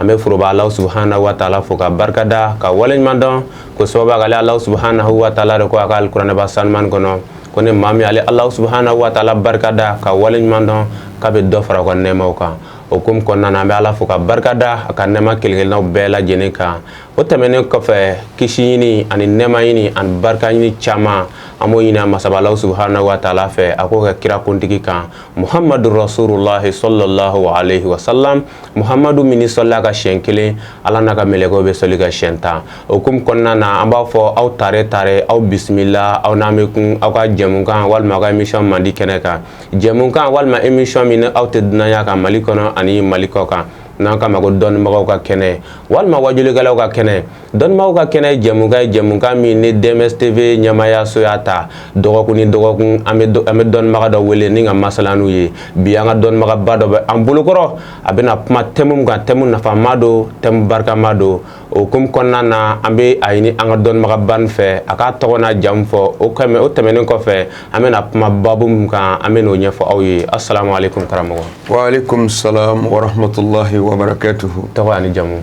an bɛ foroba Alahu subahana wataala fo k'a barikada k'a waleɲuman dɔn k'o sababuya kɛ ale Alahu subahana wataala de ko a ka alikuranɛba sanuman in kɔnɔ ko ni maa min y'ale Alahu subahana wataala barikada k'a waleɲuman dɔn k'a bɛ dɔ fara o ka nɛɛmaw kan o hukumu kɔnɔna na an bɛ Ala fo k'a barikada a ka nɛɛma kelen-kelennaw bɛɛ lajɛlen kan o tɛmɛnen kɔfɛ kisi ɲini ani nɛɛma ɲini ani barika ɲini caman an b'o ɲini a masaba Alahu subahana wataala fɛ a k'o kɛ kira kuntigi kan muhamadu rasululahi sɔlɔlahu alayhi wa salam muhamadu min n'i sɔlila a kan siɲɛ kelen ala n'a ka mɛlɛkɛw bɛ sɔli i kan siɲɛ tan o hukumu kɔnɔna na an b'a fɔ aw tare tare aw bisimila aw n'an bɛ kun aw ka jɛmukan walima aw ka emisiyɔn mandi kɛnɛ kan jɛmukan walima emisiyɔn min aw tɛ dunan y'a kan mali kɔnɔ ani mali kɔkan n'an k'a ma ko dɔnnibagaw ka kɛnɛ walima wajulikɛlaw ka kɛnɛ Dɔnnibaaw ka kɛnɛ ye jɛmukan ye jɛmukan min ni DMS TV ɲɛmaayaso y'a ta dɔgɔkun ni dɔgɔkun an bɛ dɔnnibaga dɔ wele ni ka masala n'u ye bi an ka dɔnnibagaba dɔ bɛ an bolokɔrɔ a bɛna kuma tɛmu min kan tɛmu nafama don tɛmu barikama don o hukumu kɔnɔna na an bɛ a ɲini an ka dɔnnibagaba in fɛ a ka tɔgɔ n'a jamu fɔ o kɛmɛ o tɛmɛnen kɔfɛ an bɛna kuma babu min kan an bɛn'o ɲɛfɔ aw ye asalamu aleyikum karamɔgɔ wa aleyikum salam warahamatulahi wabarakatuhu tɔgɔ ni jamu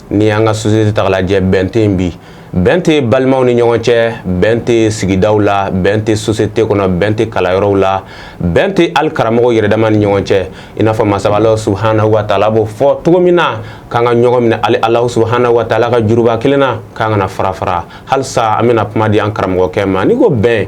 n'i y'an ka sosiyete ta k'a lajɛ bɛn tɛ yen bi bɛn tɛ balimaw ni ɲɔgɔn cɛ bɛn tɛ sigidaw la bɛn tɛ sosiyete kɔnɔ bɛn tɛ kalanyɔrɔw la bɛn tɛ hali karamɔgɔw yɛrɛdama ni ɲɔgɔn cɛ i n'a fɔ masaba ala subahana wataala b'o fɔ cogo min na k'an ka ɲɔgɔn minɛ ale ala subahana wataala ka juruba kelen na k'an kana fara fara halisa an bɛna kuma di an karamɔgɔkɛ ma ni ko bɛn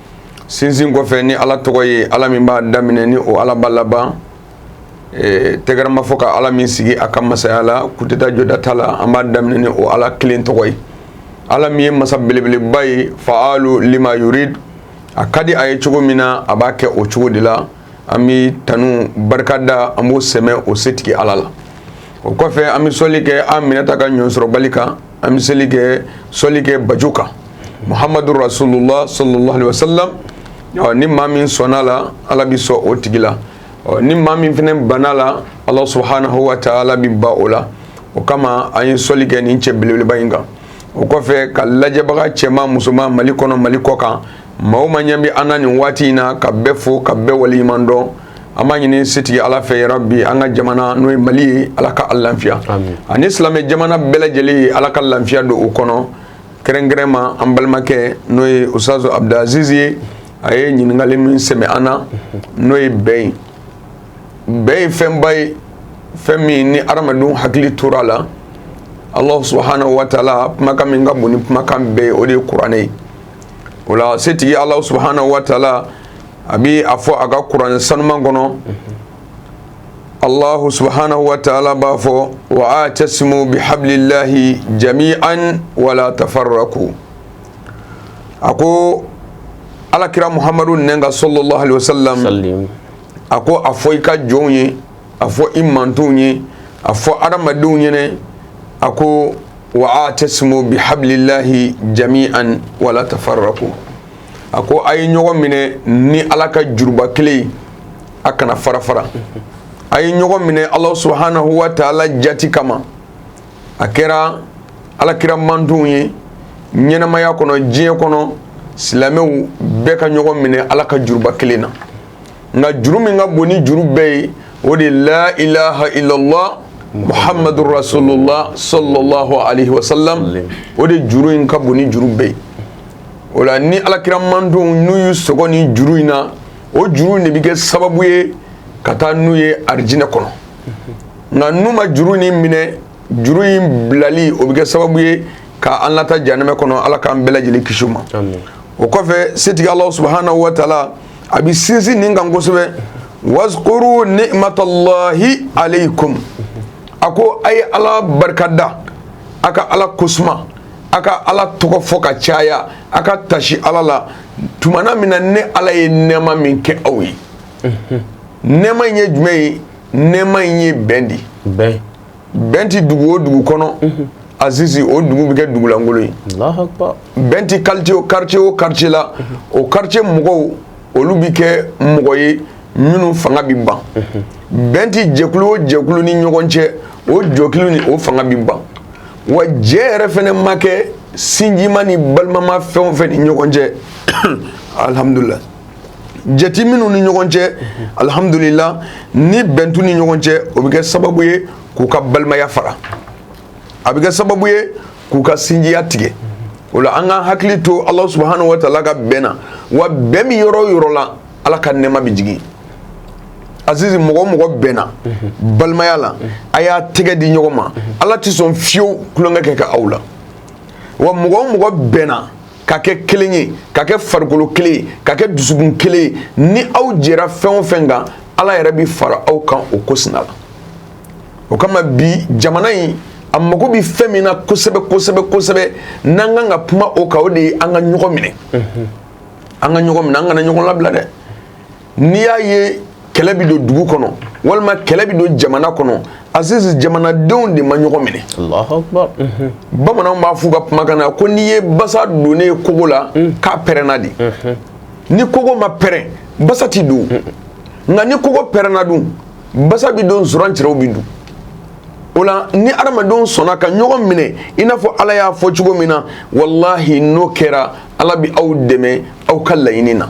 sinsin kɔfɛ ni ala tɔgɔ ye ala min b'a daminɛ ni o ala b'a laban tɛgɛrɛ ma fɔ ka ala min sigi a ka masaya la kudeta jɔda t'a la an b'a daminɛ ni o ala kelen tɔgɔ ye ala min ye masa belebeleba ye faalu lima yuridu a ka di a ye cogo min na a b'a kɛ o cogo de la an bɛ tanu ni barikada an b'o sɛmɛ o setigi Ala la o kɔfɛ an bɛ sɔli kɛ an minɛta ka ɲɔnsɔrɔbali kan an bɛ sɔli kɛ sɔli kɛ baju kan Muhamadu rasululahu salala alehi wasalamu ɔ ni maa min sɔnna a la Ala bɛ sɔn o tigi la ɔ ni maa min fana banna a la Alahu subahanahu wataala bɛ ban o la o kama an ye sɔli kɛ nin cɛ belebeleba in kan o kɔfɛ ka lajɛbaga cɛman musoman Mali kɔnɔ Mali kɔkan maa o maa ɲɛ bɛ an na nin waati in na ka bɛɛ fo ka bɛɛ waleɲuman dɔn an b'a ɲini setigi ala fɛ ya rabi an ka jamana n'o ye mali ye ala k'a lafiya ani silamɛ jamana bɛɛ lajɛlen ye ala ka lafiya don o kɔnɔ kɛrɛnkɛrɛn ma an balimakɛ n'o ye usutazu abudulaziz ye a ye ɲininkali min sɛmɛ an na n'o ye bɛn ye bɛn ye fɛnba ye fɛn min ni adamadenw hakili tora a la ala subahana wataala kumakan min ka bon ni kumakan bɛɛ ye o de ye kuranɛ ye o la setigi ala subhanahu wa taala a bɛ a fɔ a ka kuran sanuman kɔnɔ ala subhanahu wa taala b'a fɔ wa atasimu bihablillahi jami'an wala tafarraku a ko alakira muhammadu n ka sallallahu alaihi wasallam a ko a fɔ i ka jɔnw ye a fɔ i mantonw ye a fɔ adamadenw ɲɛna a ko wa atasimu bihablillahi jami'an wala tafarraku a ko a ye ɲɔgɔn minɛ ni ala ka juruba kelen ye a kana farafara a ye ɲɔgɔn minɛ ala subhanahu wa taala jate kama a kɛra alakira mantonw ye ɲɛnamaya kɔnɔ diɲɛ kɔnɔ silamɛw bɛɛ ka ɲɔgɔn minɛ ala ka juruba kelen na nka juru min ka bon ni juru bɛɛ ye o de la ilaha illallah muhammadu rasulullah sallallahu alaihi wasallam o de juru in ka bon ni juru bɛɛ ye o la ni alakira mantonw n'u y'u sɔgɔ ni juru in na o juru in de bɛ kɛ sababu ye ka taa n'u ye arijinɛ kɔnɔ nka n'u ma juru in minɛ juru in bilali o bɛ kɛ sababu ye ka an lataa janɛmɛ kɔnɔ ala k'an bɛɛ lajɛlen kisi o ma o kɔfɛ setigi ala subhanahu wa taala a bɛ sinsin nin kan kosɛbɛ wazkuru nimatallahi alaykum a ko a ye ala barika da a ka ala ko suma a ka ala tɔgɔ fɔ ka caya a ka taasi ala la tumana min na ne ala ye nɛɛma min kɛ aw ye nɛɛma in ye jumɛn ye nɛɛma in ye bɛn de ye bɛn tɛ dugu o dugu kɔnɔ azizi o dugu bɛ kɛ dugu lankolon ye bɛn tɛ quartier o quartier la o quartier mɔgɔw olu bɛ kɛ mɔgɔ ye minnu fanga bɛ ban bɛn tɛ jɛkulu o jɛkulu ni ɲɔgɔn cɛ o jɛkulu nin o fanga bɛ ban wa jɛ yɛrɛ fɛnɛ ma kɛ sinjima ni balimama fɛn o fɛn ni ɲɔgɔn cɛ alihamudulila jɛ tɛ minnu ni ɲɔgɔn cɛ alihamdulila ni bɛn t'u ni ɲɔgɔn cɛ o bɛ kɛ sababu ye k'u ka balimaya fara a bɛ kɛ sababu ye k'u ka sinjiya tigɛ o la an ka hakili to ala subhanahu wa taala ka bɛn na wa bɛn bɛ yɔrɔ o yɔrɔ la ala ka nɛɛma bɛ jigin azizi mɔgɔ o mɔgɔ bɛnna balimaya la a y'a tɛgɛ di ɲɔgɔn ma ala tɛ sɔn fiyewu tulonkɛ kɛ ka aw la wa mɔgɔ o mɔgɔ bɛnna ka kɛ kelen ye ka kɛ farikolo kelen ye ka kɛ dusukun kelen ye ni aw jɛra fɛn o fɛn kan ala yɛrɛ bɛ fara aw kan o ko sira la o kama bi jamana in a mago bɛ fɛn min na kosɛbɛ kosɛbɛ kosɛbɛ n'an kan ka kuma o kan o de ye an ka ɲɔgɔn minɛ an ka ɲɔgɔn minɛ an kana ɲɔgɔn labila dɛ n'i y'a ye kɛlɛ bɛ don dugu kɔnɔ walima kɛlɛ bɛ don jamana kɔnɔ aziz jamanadenw de ma ɲɔgɔn minɛ mhm. bamananw b'a f'u ka kumakan na ko n'i ye basa donnen kogo la mhm. k'a pɛrɛnna de mhm. ni kogo ma pɛrɛn basa ti don nka ni kogo pɛrɛnna dun basa bɛ don surantɛrɛw bɛ don o la ni adamadenw sɔnna ka ɲɔgɔn minɛ i n'a fɔ ala y'a fɔ cogo min na walahi n'o kɛra ala bɛ aw dɛmɛ aw ka laɲini na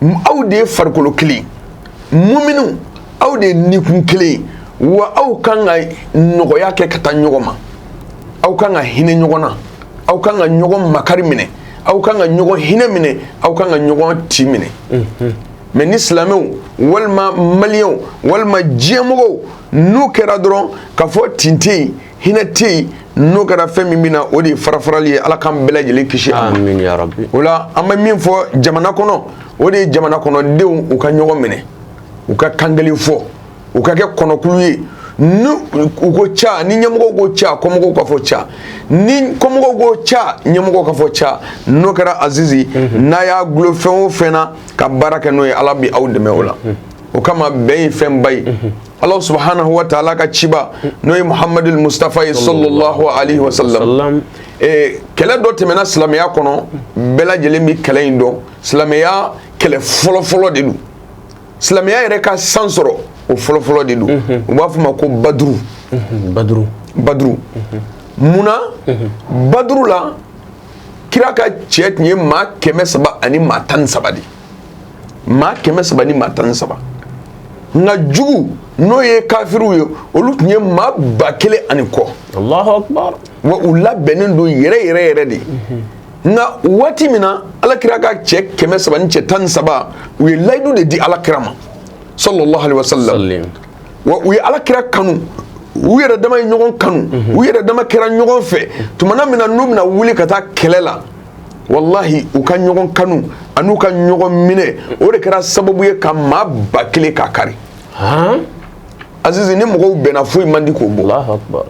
aw de ye farikolo kelen muminu aw de ye nikun kelen wa aw kan ka nɔgɔya kɛ ka taa ɲɔgɔn ma aw kan ka hinɛ ɲɔgɔn na aw kan ka ɲɔgɔn makari minɛ aw kan ka ɲɔgɔn hinɛ minɛ aw kan ka ɲɔgɔn tin minɛ mais ni silamɛw walima maliyɛnw walima diɲɛmɔgɔw n'u kɛra dɔrɔn ka fɔ tin tɛ yen hinɛ tɛ yen n'o kɛra fɛn min bɛ na o de ye farafarali ye ala k'an bɛɛ lajɛlen kisi a ma Amin ya rabi. o la an bɛ min fɔ jamana kɔnɔ o de ye jamana kɔnɔdenw u ka ɲɔgɔn minɛ u ka kan kelen fɔ u ka kɛ kɔnɔkulu ye ni u ko ca ni ɲɛmɔgɔw ko ca kɔmɔgɔw ka fɔ ca ni kɔmɔgɔw ko ca ɲɛmɔgɔw ka fɔ ca n'o kɛra azizi n'a y'a gulo fɛn o fɛn na ka baara kɛ n'o ye ala bi aw dɛmɛ o la o kama bɛn ye fɛnba ye Allah subhanahu wa ta'ala ka ciba n'o ye muhamadul mustafa ye sallallahu alaihi wa sallam kɛlɛ dɔ tɛmɛna silamɛya kɔnɔ bɛɛ lajɛlen bɛ kɛlɛ in dɔn silamɛya kɛlɛ fɔlɔfɔlɔ de don silamɛya yɛrɛ ka san sɔrɔ o fɔlɔfɔlɔ de don u b'a f'a ma ko baduru baduru munna baduru la kira ka cɛ tun ye maa kɛmɛ saba ani maa tan ni saba de maa kɛmɛ saba ni maa tan ni saba nka jugu n'o ye kafiriw ye olu tun ye maa ba kelen ani kɔ wa u labɛnnen don yɛrɛ yɛrɛ yɛrɛ de nka waati min na ala kira ka cɛ kɛmɛ saba ni cɛ tan ni saba u ye layidu de di ala kira ma sallallahu wa sallam wa u ye ala kira kanu u yɛrɛ dama ye ɲɔgɔn kanu u yɛrɛ dama kɛra ɲɔgɔn fɛ tumana min na n'u bɛna wuli ka taa kɛlɛ la walahi u ka ɲɔgɔn kanu an'u ka ɲɔgɔn minɛ o de kɛra sababu ye ka maa ba kelen k'a kari azizi ni mɔgɔw bɛnna foyi man di k'o bɔ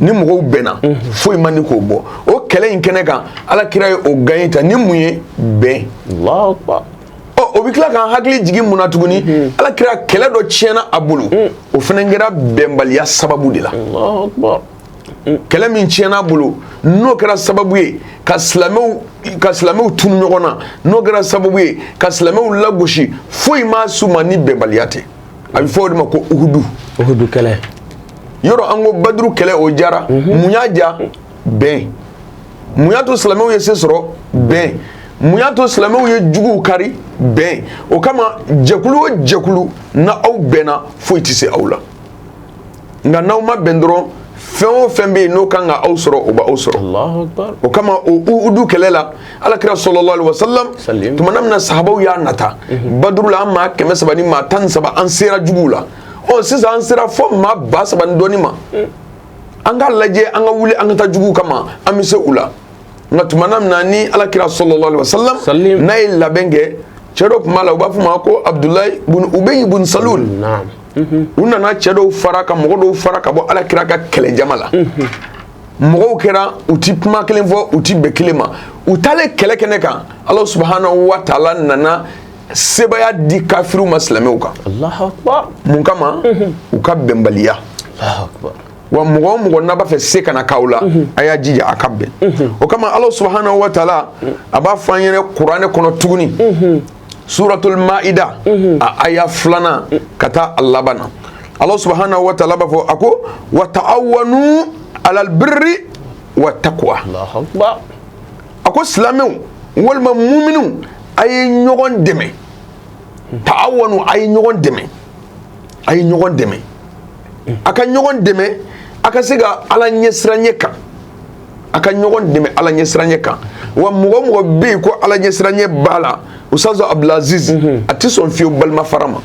ni mɔgɔw bɛnna foyi man di k'o bɔ o kɛlɛ in kɛnɛ kan ala kira ye o gagné ta ni mun ye bɛn o bɛ tila k'an hakili jigin mun na tuguni ala kira kɛlɛ dɔ tiɲɛna a bolo o fana kɛra bɛnbaliya sababu de la kɛlɛ min tiɲɛna bolo n'o kɛra sababu ye ka silamɛw ka silamɛw tunu ɲɔgɔn na n'o kɛra sababu ye ka silamɛw lagosi foyi ma s'u ma ni bɛnbaliya tɛ a bɛ fɔ o de ma ko uhudu uhudu kɛlɛ yɔrɔ an ko baduru kɛlɛ o jara mhm. mun y'a ja bɛn mun y'a to silamɛw ye se sɔrɔ bɛn mun y'a to silamɛw ye juguw kari bɛn o kama jɛkulu o jɛkulu n'aw bɛnna foyi tɛ se aw la nka n'aw ma bɛn dɔrɔn fɛn o fɛn bɛ yen n'o kan ka aw sɔrɔ o b'aw sɔrɔ o kama o uhudu kɛlɛ la alakira sallallahu alaihi wa salam tumana min na sahabaw y'a nata mhm. baduru la an maa kɛmɛ saba ni maa tan ni saba an sera juguw la ɔ sisan an sera fo maa ba saba ni dɔɔni ma mm. an ka lajɛ an ka wuli an ka taa juguw kama an bɛ se u la nka tumana min na ni alakira sallallahu alaihi wa salam n'a ye labɛn kɛ cɛ dɔ tun b'a la u b'a fɔ a ma ko abudulayi bun ubayi bun salul u nana cɛ dɔw fara ka mɔgɔ dɔw fara ka bɔ ala kira ka kɛlɛjama la mɔgɔw kɛra u ti kuma kelen fɔ u ti bɛn kelen ma u taalen kɛlɛ kɛnɛ kan alahu subahanahu wa taala nana sebaaya di kafiriw ma silamɛw kan mun kama u ka bɛnbaliya wa mɔgɔ o mɔgɔ n'a b'a fɛ se kana k'aw la mhm. a y'a jija a ka bɛn mhm. o kama Alahu subahanahu wa taala a b'a fɔ an ɲɛna kuranɛ kɔnɔ tuguni mhm. suratul maida mhm. a aya fila ka taa a laban na alahu subahanahu wa taala b'a fɔ a ko wa ta'awanu alal birri wa taqwa a ko silamɛw walima muminuw a ye ɲɔgɔn dɛmɛ ta'awanu a ye ɲɔgɔn dɛmɛ a ye ɲɔgɔn dɛmɛ a ka ɲɔgɔn dɛmɛ a ka se ka ala ɲɛsiranɲɛ kan a ka ɲɔgɔn dɛmɛ ala ɲɛsiranɲɛ kan wa mɔgɔ o mɔgɔ bɛ yen ko ala ɲɛsiranɲɛ b'a la ustazu abdulaziz mhm. a tɛ sɔn fiyewu balima fara ma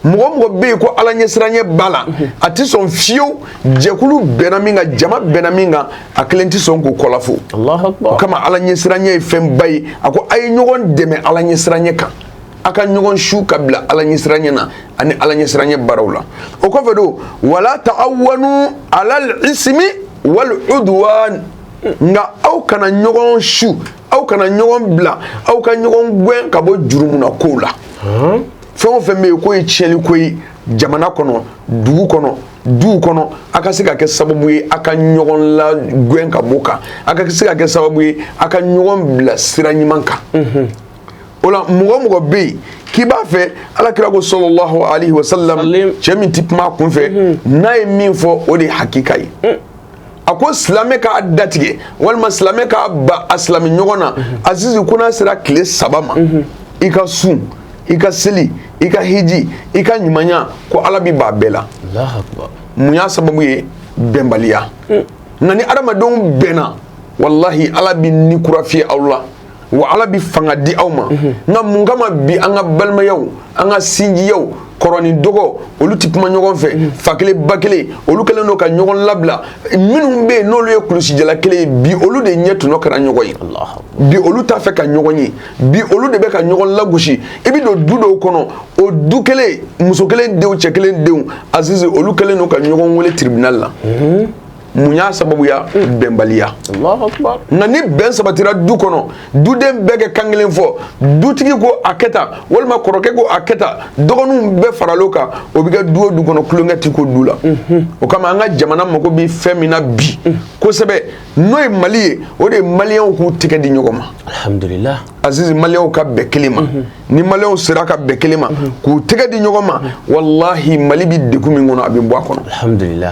mɔgɔ o mɔgɔ bɛ yen ko ala ɲɛsiranɲɛ b'a la mhm. a tɛ sɔn fiyewu jɛkulu bɛnna min kan jama bɛnna min kan a kelen tɛ sɔn k'o kɔlafo o kama ala ɲɛsiranɲɛ ye fɛnba ye a ko a ye ɲɔgɔn dɛmɛ ala ɲɛsiranɲɛ kan a ka ɲɔgɔn su ka bila ala ɲɛsiranɲɛ na ani ala ɲɛsiranɲɛ baaraw la o kɔfɛ don wa la ta'awanu alal ismi wal udwan nka aw kana ɲɔgɔn su aw kana ɲɔgɔn bila aw ka ɲɔgɔn gɛn ka bɔ jurumuna kow la fɛn o fɛn bɛ yen k'o ye tiɲɛli ko ye jamana kɔnɔ dugu kɔnɔ duw kɔnɔ a ka se ka kɛ sababu ye a ka ɲɔgɔn lagɛn ka b'o kan a ka se ka kɛ sababu ye a ka ɲɔgɔn bila sira ɲuman kan o la mɔgɔ o mɔgɔ bɛ yen k'i b'a fɛ ala kira ko salalahu alayihi wa salam cɛ min tɛ kuma a kun fɛ mhm. n'a ye min fɔ o de ye hakika ye mm. a ko silamɛ k'a datigɛ walima silamɛ k'a ban a silamɛ ɲɔgɔn na mhm. azizi ko n'a sera tile saba ma mhm. i ka sun i ka seli i ka hiji i ka ɲumanya ko ala b'i b'a bɛɛ la mun y'a sababu ye bɛnbaliya mm. nka ni adamadenw bɛnna walahi ala bi ni kura fiyɛ aw la wa ala bɛ fanga di aw ma nka mun kama bi an ka balimayaw an ka sinjiyaw kɔrɔ ni dɔgɔ olu tɛ kuma ɲɔgɔn fɛ fa kelen ba kelen olu kɛlen don ka ɲɔgɔn labila minnu bɛ yen n'olu ye kulusijala kelen ye bi olu de ɲɛ tɔnɔ kɛra ɲɔgɔn ye bi olu t'a fɛ ka ɲɔgɔn ye bi olu de bɛ ka ɲɔgɔn lagosi i bɛ don du dɔw kɔnɔ o du kelen muso kelen denw cɛ kelen denw azizi olu kɛlen don ka ɲɔgɔn wele tribunal la mun y'a sababuya bɛnbaliya nka ni bɛn sabatira du kɔnɔ duden bɛɛ kɛ kan kelen fɔ dutigi ko a kɛ tan walima kɔrɔkɛ ko a kɛ tan dɔgɔninw bɛɛ faral'o kan o bɛ kɛ du o du kɔnɔ tulonkɛ ti k'o du la mhm. o kama an ka jamana mago bɛ fɛn min na bi mhm. kosɛbɛ n'o ye mali ye o de ye maliyɛnw k'u tɛgɛ di ɲɔgɔn ma alihamudulila azizi maliyɛnw ka bɛn kelen ma mhm. ni maliyɛnw sera ka bɛn kelen ma k'u tɛgɛ di ɲɔgɔn ma walahi mali bɛ degun min kɔnɔ a bɛ bɔ a kɔnɔ alihamudulila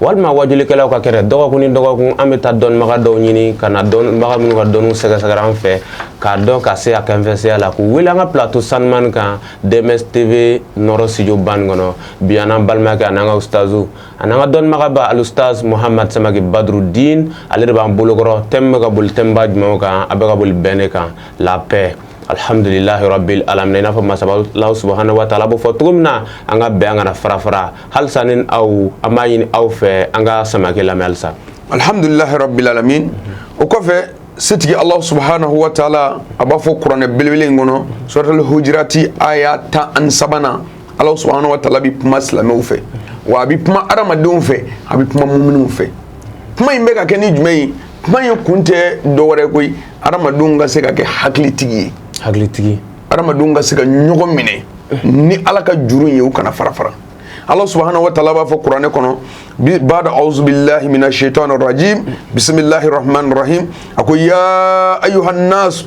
walima wajulikɛlaw ka kɛnɛ dɔgɔkun ni dɔgɔkun an bɛ taa dɔnnibaga dɔw ɲini ka na dɔnnibaga minnu ka dɔnni sɛgɛsɛgɛra an fɛ k'a dɔn ka se a kanfɛsɛya la k'u wele an ka plateau sanumani kan DMS TV nɔrɔ studio ba in kɔnɔ bi an n'an balimakɛ an'an ka usutazu an'an ka dɔnnibagaba alusutaz muhamad samakɛ badrudin ale de b'an bolokɔrɔ thème bɛ ka boli thème ba jumɛn kan a bɛ ka boli bɛn de kan la paix alihamdulilahi rabbil alamin i n'a fɔ masaba subahana wa taala b'o fɔ cogo min na an ka bɛn an kana fara fara halisa ni aw an b'a ɲini aw fɛ an ka samakɛ lamɛn halisa alihamdulilahi rabbil alamin o kɔfɛ setigi alahu subahanahu wa taala a b'a fɔ kuranɛ belebele in kɔnɔ suratul hujurati aya tan ani sabanan alahu subahanahu wa taala bɛ kuma silamɛw fɛ wa a bɛ kuma adamadenw fɛ a bɛ kuma mumininw fɛ kuma in bɛ ka kɛ ni jumɛn ye kuma in kun tɛ dɔwɛrɛ koyi adamadenw ka se ka kɛ hakilitigi ye hakilitigi adamadenw ka se ka ɲɔgɔn minɛ ni ala ka juru ye u kana fara fara alahu subahanahu wa taala b'a fɔ kuranɛ kɔnɔ bada auzubillahi mina shaitani rajim bisimilahi rahmani rahim a ko ya ayuhan nas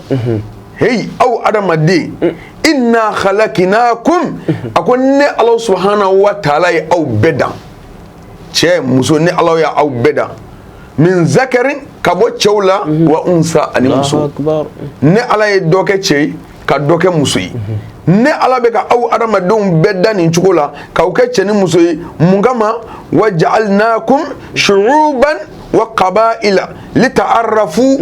heyi aw adamaden inna khalakinakum a ko ne alahu subahanahu wa taala ye aw bɛɛ dan cɛ muso ne ala y' aw bɛɛ da min zakarin ka bɔ cɛw la wa unsa ani muso ne ala ye dɔ kɛ cɛ ye ka dɔ kɛ muso ye ne ala bɛ ka aw adamadenw bɛɛ da nin cogo la k'aw kɛ cɛ ni muso ye mun kama wa ja'alnakum shu'uban wa kaba'ila lita'arafu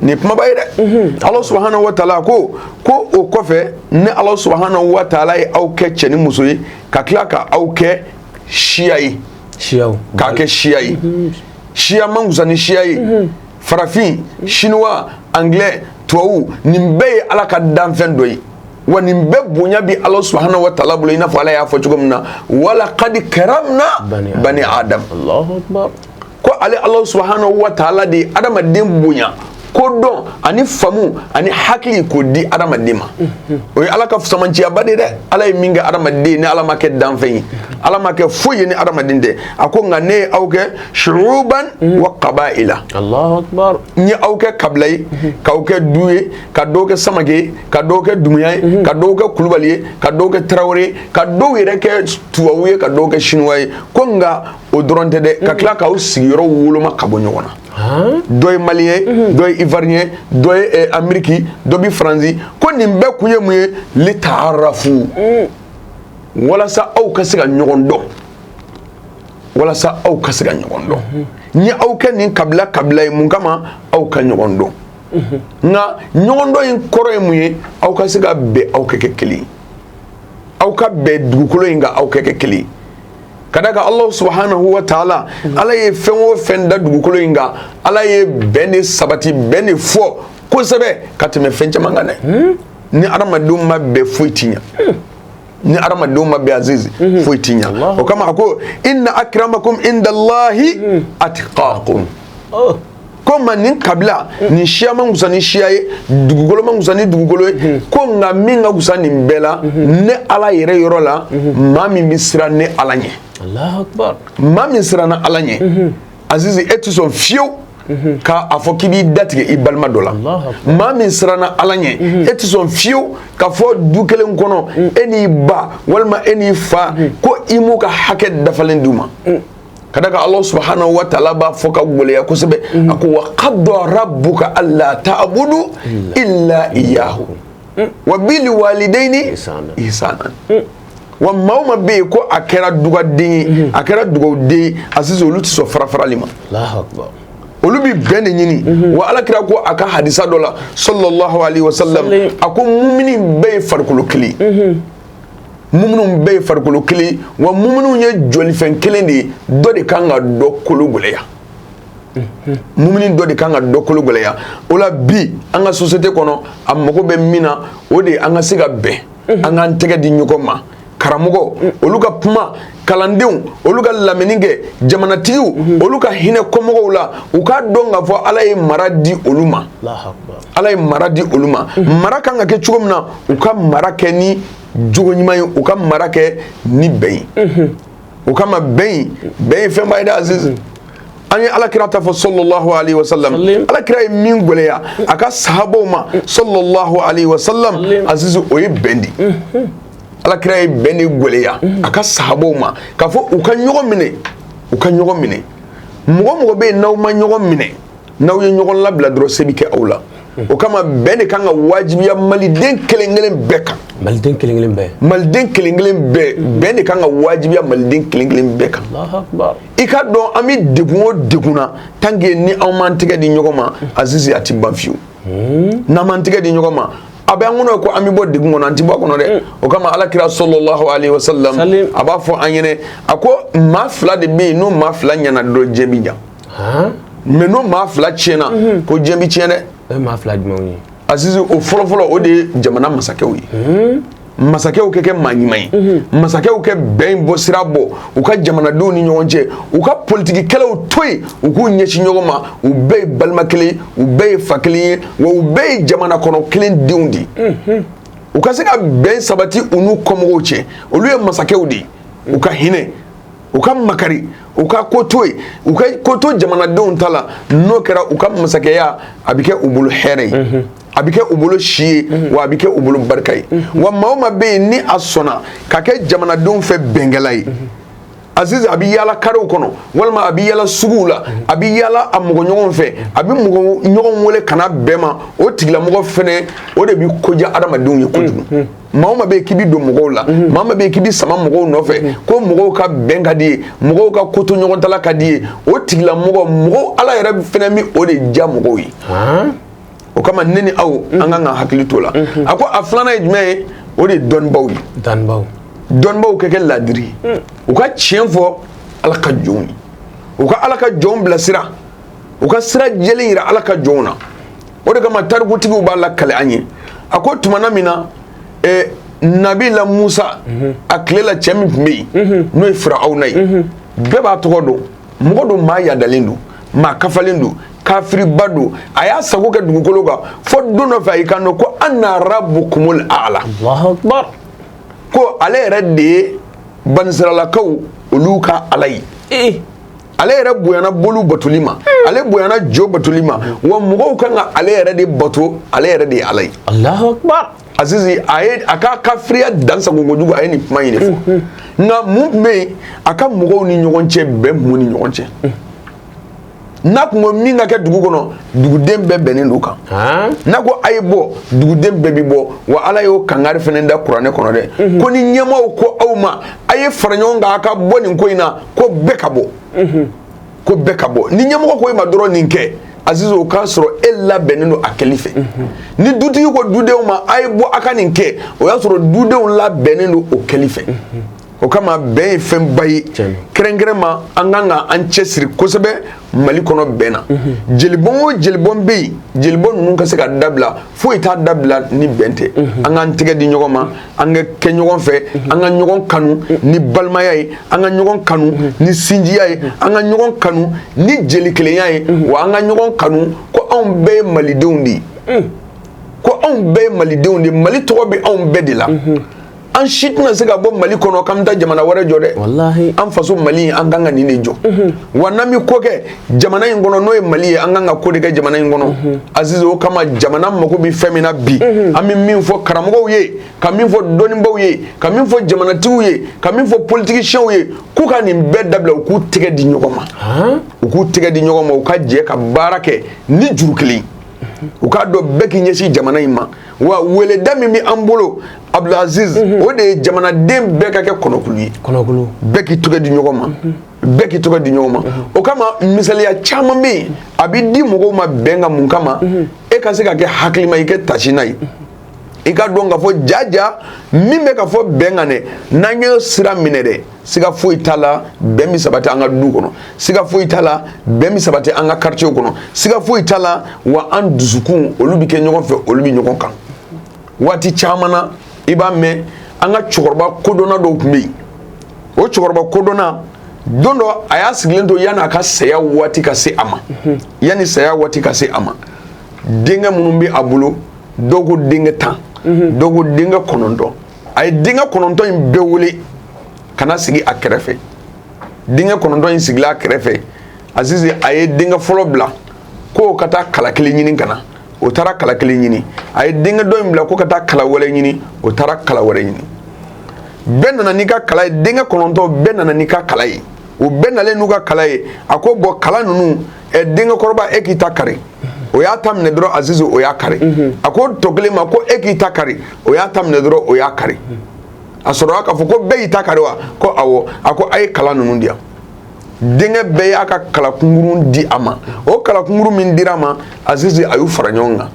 nin kumaba ye dɛ ala subhanahu wa taala ko ko o kɔfɛ ne ala subhanahu wa taala ye aw kɛ cɛ ni muso ye ka tila ka aw kɛ siya ye k'a kɛ siya ye siya man kusa ni siya ye farafin sinuwa anglais tubabu nin bɛɛ ye ala ka danfɛn dɔ ye wa nin bɛɛ bonya bi ala subhanahu wa taala bolo i n'a fɔ ala y'a fɔ cogo min na walakad karamna bani adam ko ale ala subhanahu wa taala de ye adamaden bonya ko dɔn ani famu ani hakili k'o di adamaden ma o ye ala ka samanciyaba de dɛ ala ye min kɛ adamaden ni ala m'a kɛ danfɛn ye ala m'a kɛ foyi ye ni adamaden tɛ a ko nka ne ye aw kɛ shu'uban wa kaba'ila n ye aw kɛ kabila ye k'aw kɛ du ye ka dɔw kɛ samake ye ka dɔw kɛ dumuya ye ka dɔw kɛ kulubali ye ka dɔw kɛ tarawele ye ka dɔw yɛrɛ kɛ tubabu ye ka dɔw kɛ sinuwa ye ko nka o dɔrɔn tɛ dɛ ka mhm. tila k'aw sigiyɔrɔ woloma ka bɔ ɲɔgɔn na dɔ ye maliyɛn mhm. dɔ ye ivariyɛn ye dɔ ye eh, ameriki dɔ bɛ faransi ko nin bɛɛ kun ye mun ye lita'arafu mhm. walasa aw ka se ka ɲɔgɔn dɔn walasa aw ka se ka ɲɔgɔn dɔn n y'aw kɛ nin kabila kabila ye mun kama aw ka ɲɔgɔn dɔn nka ɲɔgɔn dɔn in kɔrɔ ye mun ye aw ka se ka bɛn aw ka kɛ kelen aw ka bɛn dugukolo in kan aw ka kɛ kelen ka d'a kan ala subhanahu wa taala ala ye fɛn o fɛn da dugukolo in kan ala ye bɛn de sabati bɛn de fɔ kosɛbɛ ka tɛmɛ fɛn caman kan dɛ hmm? ni adamadenw ma bɛn foyi ti ɲɛ hmm. ni adamadenw ma bɛn azizi hmm. foyi ti ɲɛ o kama a ko inna akramakum indallahi atqakum oh. ko ma nin kabila nin siya man kusa ni siya ye dugukolo man kusa ni dugukolo ye ko nka min ka kusa nin bɛɛ la ne ala yɛrɛ yɔrɔ la maa min bɛ siran ne ala ɲɛ maa min siranna ala ɲɛ azizi e tɛ sɔn fiyewu ka a fɔ k'i b'i datigɛ i balima dɔ la maa min siranna ala ɲɛ e tɛ sɔn fiyewu k'a fɔ du kelen kɔnɔ e n'i ba walima e n'i fa ko i m'u ka hakɛ dafalen d'u ma ka d'a kan ala subhanahu wa taala b'a fɔ ka gɛlɛya kosɛbɛ a ko wa kada rabbuka alla ta'budu illa iyyahu wa bil walidaini ihsanan wa maa o maa bɛ yen ko a kɛra dugaden a kɛra dugawuden a sisan olu tɛ sɔn farafarali ma olu bɛ bɛn de ɲini mhm. wa ala kira ko a ka hadisa dɔ la sallallahu alaihi wa sallam a ko mumini bɛɛ ye farikolo kelen muminu bɛɛ ye farikolo kelen wa muminu ye jɔlifɛn kelen de ye dɔ de kan ka dɔ kolo gɛlɛya mumini dɔ de kan ka dɔ kolo gɛlɛya o la bi an ka société kɔnɔ a mago bɛ min na o de an ka se ka bɛn an k'an tɛgɛ di ɲɔgɔn ma karamɔgɔ olu ka kuma kalandenw olu ka lamɛnni kɛ jamanatigiw mhm. olu ka hinɛ kɔmɔgɔw la u k'a dɔn k'a fɔ ala ye mara di olu ma ala ye mara di olu ma mhm. mara kan ka kɛ cogo min na u ka mara kɛ ni jogo ɲuman ye u ka mara kɛ ni bɛn ye mhm. o kama bɛn ye bɛn ye fɛnba ye dɛ aziz an ye alakira ta fɔ sallallahu alaihi wasallam alakira ye min gɛlɛya a ka sahabaw ma sallallahu alaihi wasallam aziz o ye bɛn de alakira ye bɛn de gɛlɛya a ka sahabaw ma k'a fɔ u ka ɲɔgɔn minɛ u ka ɲɔgɔn minɛ mɔgɔ mɔgɔ bɛ yen n'aw ma ɲɔgɔn minɛ n'aw ye ɲɔgɔn labila dɔrɔn se bɛ kɛ aw la o kama bɛn de kan ka wajibiya maliden kelen kelen bɛɛ kan maliden kelen kelen bɛɛ maliden kelen kelen bɛɛ bɛn de kan ka wajibiya maliden kelen kelen bɛɛ kan i k'a dɔn an bɛ degun o degun na tant que ni anw m'an tɛgɛ di ɲɔgɔn ma aziz a tɛ ban fiyewu hmm? n'an m'an tɛgɛ di ɲɔgɔn ma a bɛ an kɔnɔ ko an bɛ bɔ degun kɔnɔ an tɛ bɔ a kɔnɔ dɛ hmm. o kama ala kira sallallahu alayhi wa sallam a b'a fɔ an ɲɛnɛ a ko maa fila de bɛ yen n'o maa fila ɲɛna dɔrɔn diɲɛ bɛ ɲa mais n'o maa fila tiɲɛna hmm. ko diɲɛ bɛ tiɲɛ dɛ o ye maa fila jumɛnw ye azizi o fɔlɔfɔlɔ o de ye jamana masakɛw ye masakɛw ka kɛ maa ɲuman ye mhm. masakɛw ka bɛn bɔ sira bɔ u ka jamanadenw ni ɲɔgɔn cɛ u ka politikikɛlaw to yen u k'u ɲɛsin ɲɔgɔn ma u bɛɛ ye balima kelen u bɛɛ ye fa kelen ye wa u bɛɛ ye jamana kɔnɔ kelen denw de ye mhm. u ka se ka bɛn sabati u n'u kɔmɔgɔw cɛ olu ye masakɛw de ye u ka hinɛ u ka makari u ka ko to yen u ka ko to jamanadenw ta la n'o kɛra u ka masakɛya a bɛ kɛ u bolo hɛrɛ ye mhm. a bɛ kɛ u bolo si ye wa a bɛ kɛ u bolo barika ye wa maa o maa bɛ yen ni a sɔnna ka kɛ jamanadenw fɛ bɛnkɛla ye aziz a bɛ yaala karew kɔnɔ walima a bɛ yaala suguw la a bɛ yaala a mɔgɔ ɲɔgɔn fɛ a bɛ mɔgɔ ɲɔgɔn wele ka na bɛn ma o tigilamɔgɔ fana o de bɛ ko diya hadamadenw ye kojugu maa o maa bɛ yen k'i bɛ don mɔgɔw la maa o maa bɛ yen k'i bɛ sama mɔgɔw nɔfɛ ko mɔgɔw ka bɛn ka di i ye mɔgɔw ka ko to ɲɔgɔn ta la ka di i ye o tigilamɔgɔ mɔgɔw ala yɛrɛ fana bɛ o de diya mɔgɔw ye o kama ne ni aw an kan ka hakili to la a ko a filanan ye jumɛn ye o de ye dɔnnibaw ye dɔnnibaw dɔnnibaw ka kɛ laadiri ye u ka tiɲɛ fɔ ala ka jɔnw ye u ka ala ka jɔnw bilasira u ka sira jɛlen yira ala ka jɔnw na o de kama tarikutigiw b'a lakale an ye a ko tumana min na eh, nabila musa a tile la cɛ min tun bɛ yen n'o ye firawuna ye bɛɛ b'a tɔgɔ dɔn mɔgɔ don maa yadalen don maa kafalen don kafiriba don a y'a sago kɛ dugukolo kan fo don dɔ fɛ a y'i kanto ko ana rabbukumul a'la ko ale yɛrɛ de ye banisiralakaw olu ka ala ye eh. ale yɛrɛ bonyana boli batoli ma hmm. ale bonyana jo batoli ma wa mɔgɔw kan ka ale yɛrɛ de bato ale yɛrɛ de ye ala ye Azizi a ye a ka kafiriya dansago kojugu a ye nin kuma in de fɔ nka mun tun bɛ yen a ka mɔgɔw ni ɲɔgɔn cɛ bɛn tun b'u ni ɲɔgɔn cɛ n'a tun ko min ka kɛ dugu kɔnɔ duguden bɛɛ bɛnnen don kan n'a ko a ye bɔ duguden bɛɛ bɛ bɔ wa ala y'o kangari fana da kuranɛ kɔnɔ dɛ ko ni ɲɛmaaw ko aw ma a ye fara ɲɔgɔn kan a ka bɔ nin ko in na ko bɛɛ ka bɔ ko bɛɛ ka bɔ ni ɲɛmɔgɔ ko e ma dɔrɔn nin kɛ aziz o k'a sɔrɔ e labɛnnen don a kɛli fɛ ni dutigi ko dudenw ma a ye bɔ a ka nin kɛ o y'a sɔrɔ dudenw labɛnnen don o kɛli fɛ o kama bɛn ye fɛnba ye kɛrɛnkɛrɛn ma an kan ka an cɛsiri kosɛbɛ mali kɔnɔ bɛn na jelibɔn o jelibɔn bɛ yen jelibɔn ninnu ka se ka dabila foyi t'a dabila ni bɛn tɛ an k'an tɛgɛ di ɲɔgɔn ma an ka kɛ ɲɔgɔn fɛ an ka ɲɔgɔn kanu ni balimaya ye an ka ɲɔgɔn kanu ni sinjiya ye an ka ɲɔgɔn kanu ni jelikelenya ye wa an ka ɲɔgɔn kanu ko anw bɛɛ ye malidenw de ye ko anw bɛɛ ye malidenw de ye mali tɔgɔ bɛ anw bɛɛ de la an si tɛna se ka bɔ mali kɔnɔ k'an bɛ taa jamana wɛrɛ jɔ dɛ walahi an faso mali an kan ka nin de jɔ mhm. wa n'an bɛ ko kɛ jamana in kɔnɔ n'o ye mali ye an kan ka ko de kɛ jamana in kɔnɔ mhm. azizi o kama jamana mago bɛ fɛn min na bi mhm. an bɛ min fɔ karamɔgɔw ye ka min fɔ dɔnnibaaw ye ka min fɔ jamanatigiw ye ka min fɔ politigisiyɛnw ye k'u ka nin bɛɛ dabila u k'u tɛgɛ di ɲɔgɔn ma u k'u tɛgɛ di ɲɔgɔn ma u ka jɛ ka baara kɛ ni juru kelen u k'a dɔn bɛɛ k'i ɲɛsin jamana in ma wa weleda min bɛ an bolo Abdulaziz o de ye jamanaden bɛɛ ka kɛ kɔnɔkulu ye bɛɛ k'i tɛgɛ di ɲɔgɔn ma bɛɛ k'i tɛgɛ di ɲɔgɔn ma o kama misaliya caman bɛ yen a bɛ di mɔgɔw ma bɛn kan mun kama e ka se ka kɛ hakilima i kɛ tasina ye i k'a dɔn k'a fɔ jaja min bɛ ka fɔ bɛn kan dɛ n'an ye sira minɛ dɛ siga foyi t'a la bɛn bɛ sabati an ka du kɔnɔ siga foyi t'a la bɛn bɛ sabati an ka karitiyew kɔnɔ siga foyi t'a la wa an dusukun olu bɛ kɛ ɲɔgɔn fɛ olu bɛ ɲɔgɔn kan waati caman na i b'a mɛn an ka cɛkɔrɔba kodɔnna dɔw tun bɛ yen o cɛkɔrɔba kodɔnna don dɔ a y'a sigilen to yanni a ka saya waati ka se a ma yanni saya waati ka se a ma denkɛ minnu bɛ a bolo dɔw ko denkɛ tan dɔw ko denkɛ kɔnɔntɔn a ye denkɛ kɔnɔntɔn in bɛɛ wele ka na sigi a kɛrɛfɛ denkɛ kɔnɔntɔn in sigila a kɛrɛfɛ Azizi a ye denkɛ fɔlɔ bila ko ka taa kala kelen ɲini ka na o taara kala kelen ɲini a ye denkɛ dɔ in bila ko ka taa kala wɛrɛ ɲini o taara kala wɛrɛ ɲini bɛɛ nana n'i ka kala ye denkɛ kɔnɔntɔn bɛɛ nana n'i ka kala ye o bɛɛ nalen n'u ka kala ye a ko bɔn kala ninnu ɛ denkɛ kɔrɔba e k'i ta kari o y'a ta minɛ dɔrɔn azizi o y'a kari mhm. a ko tɔ kelen ma ko e k'i ta kari o y'a ta minɛ dɔrɔn o y'a kari a sɔrɔla k'a fɔ ko bɛɛ y'i ta kari wa ko awɔ a ko a ye kala ninnu di yan denkɛ bɛɛ y'a ka kalakungurun di a ma o kalakungurun min dira a ma azizi a y'u fara ɲɔgɔn kan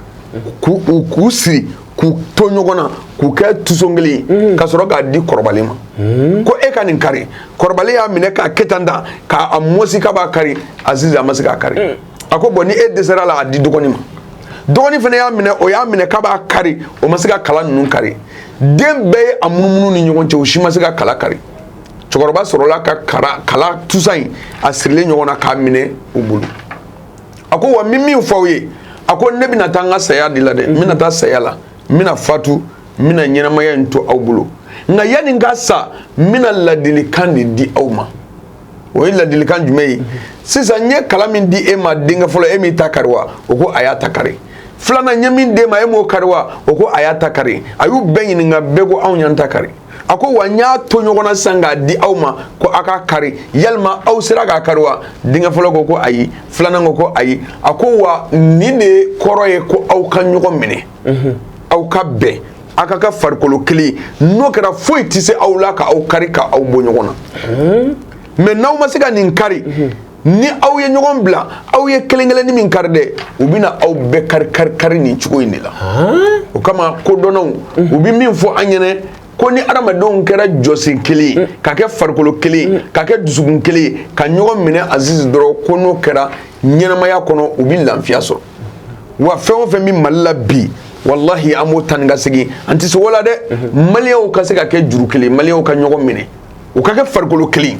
k'u k'u siri k'u to ɲɔgɔn na k'u kɛ tuson kelen ye mm. ka sɔrɔ k'a di kɔrɔbalen ma mm. ko e ka nin kari kɔrɔbalen y'a minɛ k'a kɛ tan tan k'a mɔsi k'a b'a kari azizi a ma se k'a kari mm. a ko bɔn ni e dɛsɛr'a la a di dɔgɔnin ma dɔgɔnin fana y'a minɛ o y'a minɛ k'a b'a kari o ma se ka kala ninnu kari den bɛɛ ye a munumunu ni ɲɔgɔn cɛ o si ma se ka kala kari cɛkɔrɔba sɔrɔla ka kara kala tusa in a sirilen ɲɔgɔn na k'a minɛ u bolo a ko wa n bɛ min fɔ aw ye a ko ne bɛna taa n ka saya de la dɛ n bɛna taa saya la n bɛna fatu n bɛna ɲɛnamaya in to aw bolo nka yanni n ka sa n bɛna ladilikan de di aw ma o ye ladilikan jumɛn ye sisan n ye kala min di e ma denkɛ fɔlɔ e m'i ta kari wa o ko a y'a ta kari filanan n ye min d'e ma e m'o kari wa o ko a y'a ta kari a y'u bɛɛ ɲininka bɛɛ ko anw y'an ta kari a ko wa n y'a to ɲɔgɔn na sisan k'a di aw ma ko aw k'a kari yalima aw sera k'a kari wa denkɛ fɔlɔ ko ko ayi filanan ko ko ayi a ko wa nin de kɔrɔ ye ko aw ka ɲɔgɔn minɛ mhm. aw ka bɛn aw ka kɛ farikolo kelen ye n'o kɛra foyi tɛ se aw la ka aw kari ka aw bɔ ɲɔgɔn na mhm. mɛ n'aw ma se ka nin kari mhm. ni aw ye ɲɔgɔn bila aw ye kelen kelen ni min kari dɛ u bɛna aw bɛɛ kari kari kari nin cogo in de la o kama kodɔnnaw u bɛ min fɔ an ɲɛna ko ni adamadenw kɛra jɔsen kelen ye ka kɛ farikolo kelen ka kɛ dusukun kelen ye ka ɲɔgɔn minɛ azizi dɔrɔn ko n'o kɛra ɲɛnamaya kɔnɔ u bɛ lafiya sɔrɔ wa fɛn o fɛn bɛ mali la bi walahi an b'o taa ni ka segin an tɛ se o la dɛ maliyɛnw ka se ka kɛ juru kelen maliyɛnw ka ɲɔgɔn minɛ u ka kɛ farikolo kelen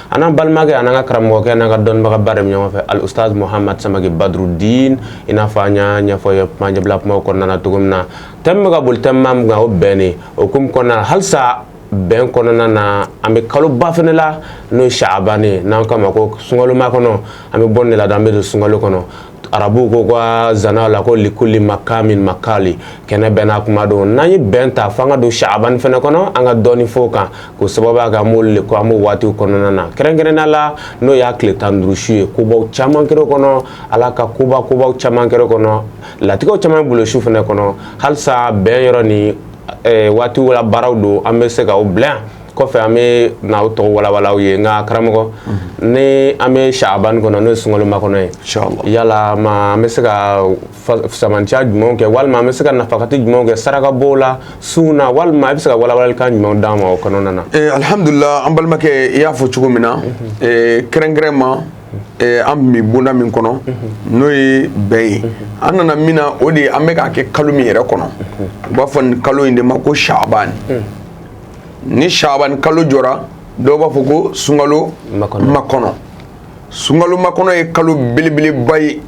An n'an balimakɛ an n'an ka karamɔgɔkɛ an n'an ka dɔnnibaga baara min ɲɔgɔn fɛ ali usutazi muhamadu samakɛ badrudin i n'a fɔ an y'a ɲɛfɔ ye kumaɲɛbila kuma kɔnɔna na cogo min na tɛmu bɛ ka boli tɛmu min kan o bɛnnen o hukumu kɔnɔna halisa bɛn kɔnɔna na an bɛ kaloba fana la n'o ye saabani n'an k'a ma ko sunkalomakɔnɔ an bɛ bɔ nin de la an bɛ don sunkalo kɔnɔ arabuw k'u ka zana la ko likuli makamin makali kɛnɛ bɛɛ n'a kuma don n'an ye bɛn ta fo an ka don saabani fana kɔnɔ an ka dɔɔni fɔ o kan k'o sababu kɛ an b'olu le ko an b'o waatiw kɔnɔna na kɛrɛnkɛrɛnnenya la n'o y'a tile tan ni duuru su ye kobaw caman kɛra o kɔnɔ ala ka koba kobaw caman kɛra o kɔnɔ latigɛw caman b'o su fana kɔnɔ halisa bɛn yɔrɔ ni waatiw la baaraw don an bɛ se ka o bila yan kɔfɛ an bɛ na aw tɔgɔ walawala aw ye nka karamɔgɔ ni an bɛ Chahabani kɔnɔ n'o ye sunkalo makɔnɔ ye inchallah yala ma an bɛ se ka fusamanciya jumɛnw kɛ walima an bɛ se ka nafakati jumɛnw kɛ saraka bɔ la sun na walima i bɛ se ka walawalalikan jumɛnw d'an ma o kɔnɔna na alihamudulila an balimakɛ i y'a fɔ cogo min na kɛrɛnkɛrɛnma an bɛ bonda min kɔnɔ n'o ye bɛn ye an nana min na o de ye an bɛ k'a kɛ kalo min yɛrɛ kɔnɔ u b'a fɔ nin kalo in de ma ko Chahabani. ni shabani kalo jɔra dɔw b'a fɔ ko sunkalo makɔnɔ sunkalo makɔnɔ ye kalo belebeleba ye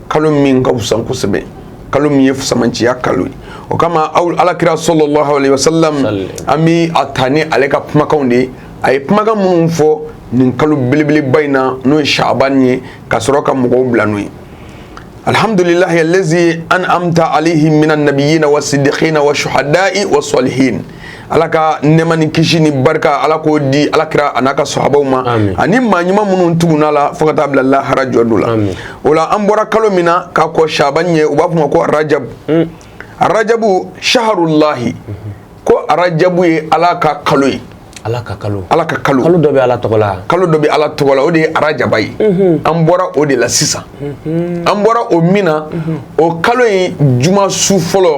kalo min ka fisa kosɛbɛ kalo min ye fusamanciya kalo ye o kama alakira sallallahu alaihi wasallam an bɛ a ta ni ale ka kumakanw de ye a ye kumakan minnu fɔ nin kalo belebeleba in na n'o ye shabani ye ka sɔrɔ ka mɔgɔw bila n'o ye alihamdulilahi allazina an'amta alaihim minan nabiyyina wassiddiqina washshuhada'i wassali h ala ka nɛɛma ni kisi ni barika ala k'o di ala kira a n'a ka sahabaw ma ani maa ɲuman minnu tugunna la fo ka taa bila lahara jɔ don la o la an bɔra kalo min na ka kɔn shaban ɲɛ u b'a f'o ma ko arajabu mm. arajabu shaharullahi mhm. ko arajabu ye ala ka kalo ye ala ka kalo ala ka kalo kalo dɔ bɛ ala tɔgɔ la kalo dɔ bɛ ala tɔgɔ la o de ye arajaba ye mhm. an bɔra o de la sisan mhm. an bɔra o min na mhm. o kalo in juma su fɔlɔ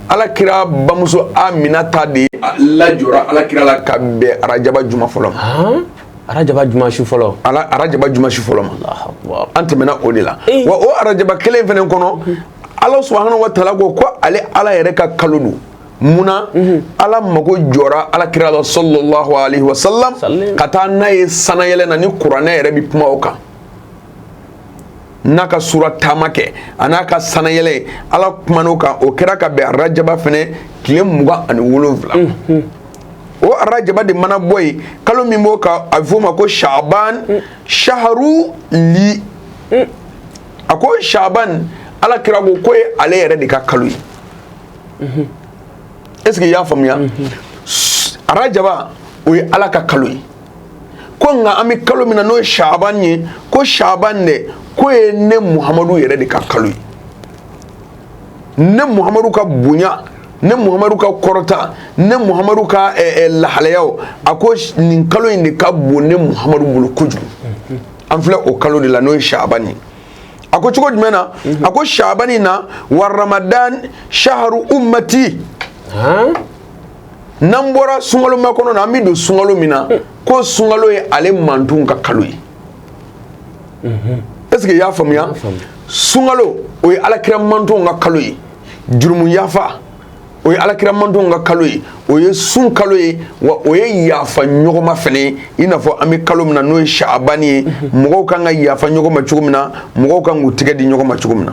ala kira bamuso aminata de lajɔra ala kira la ka bɛn arajaba juma fɔlɔ arajaba juma su fɔlɔ ala arajaba juma su fɔlɔ ma an tɛmɛna o de la wa o arajaba kelen fɛnɛ kɔnɔ ala subhanahu wa ta'ala ko ko ale ala yɛrɛ ka kalo don munna mhm. ala mago jɔra ala kira la sallallahu alaihi wasallam ka taa n'a ye sanayɛlɛ na ni kuranɛ yɛrɛ bɛ kuma o kan n'a ka sura taama kɛ a n'a ka sanayɛlɛ ala kuman'o kan o kɛra ka bɛn arajaba fɛnɛ tile mugan ani wolonwula o arajaba de mana bɔ yen kalo min b'o kan a bɛ f'o ma ko shaban shaharu li a ko shaban ala kira ko k'o ye ale yɛrɛ de ka kalo ye est ce que i y'a faamuya arajaba o ye ala ka kalo ye ko nka an bɛ kalo min na n'o ye saban ye ko saban dɛ k'o ye ne muhamadu yɛrɛ de ka kalo ye ne muhamadu ka bonya ne muhamadu ka kɔrɔta ne muhamadu ka eh, eh, lahalayaw a ko nin kalo in de ka bon ne muhamadu bolo kojugu an filɛ o kalo de la n'o ye saban ye a ko cogo jumɛn na a ko saban in na wa ramadan shaharu ummati n'an bɔra sunkalo makɔnɔ na an bɛ don sunkalo min na ko sunkalo ye ale mantonw ka kalo ye est-ce que i y'a faamuya sunkalo o ye alakira mantonw ka kalo ye jurumu yafa o ye alakira mantonw ka kalo ye o ye sun kalo ye wa o ye yafa ɲɔgɔnma fana ye i n'a fɔ an bɛ kalo min na n'o ye saabani ye mɔgɔw kan ka yafa ɲɔgɔn ma cogo min na mɔgɔw kan k'u tɛgɛ di ɲɔgɔn ma cogo min na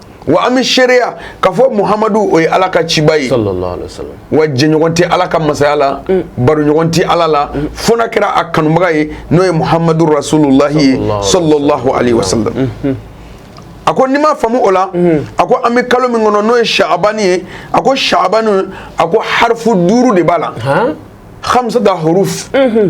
wa an bɛ seereya k'a fɔ muhamadu o ye ala ka ciba ye wa jɛɲɔgɔn tɛ ala ka masaya la mm. baroɲɔgɔn tɛ ala la mm. fo n'a kɛra a kanubaga ye n'o ye muhamadu rasululahi ye sallallahu alayhi wa sallam mm-hmm. a ko n'i m'a faamu o la mm-hmm. a ko an bɛ kalo min kɔnɔ n'o ye saabani ye a ko saabani a ko harifu duuru de b'a la khamsata huruf mm-hmm.